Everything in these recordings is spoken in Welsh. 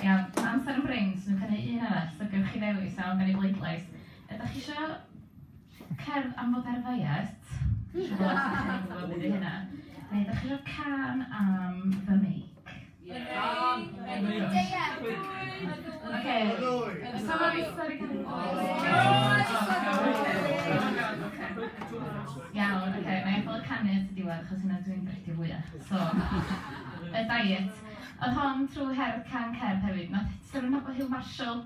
Iawn, mae amser yn brin, so dwi'n cynnig un arall, so gewch chi ddewis iawn gan y bleidlais. Ydych chi isio cerdd am fod ar ddiet? Neu ydych chi isio cân am fy meic? Iawn, oce, wna i adael y canu at y diwedd achos hynna dwi'n drecio fwya. So, y diet. Oedd hon trwy her Can Cerdd hefyd. Wnaeth Seren Hopper Hill Marshall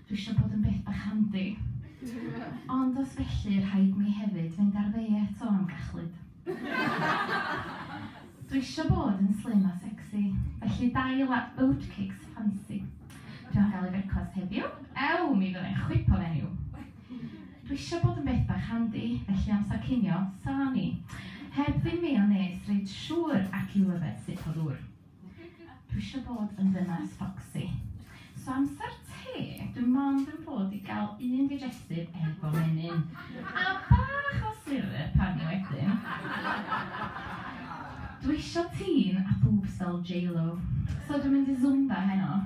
Dwi isio bod yn beth bach handi. Ond os felly rhaid mi hefyd fynd ar ddeiet o amgachlud. Dwi isio bod yn slim a sexy, felly dail a oatcakes ffansi. Dwi am gael i frecwast heddiw, ew, mi fyddai'n chwip o fenyw. Dwi isio bod yn beth bach handi, felly amser cinio, salami. Heb ddim meiniones, reit siŵr, ac i'w yfed sut o ddŵr. Dwi isio bod yn ddynas ffocsy. So amser te, dwi mond yn bod i gael un digestif efo menyn, a bach o syrup arni wedyn. Dwi isio tîn a boobs fel J-Lo, so dwi'n mynd i Zumba heno.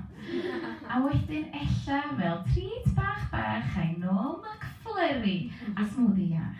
A wedyn ella fel treat bach bach, I know I'm a Fleri a smwddi iach.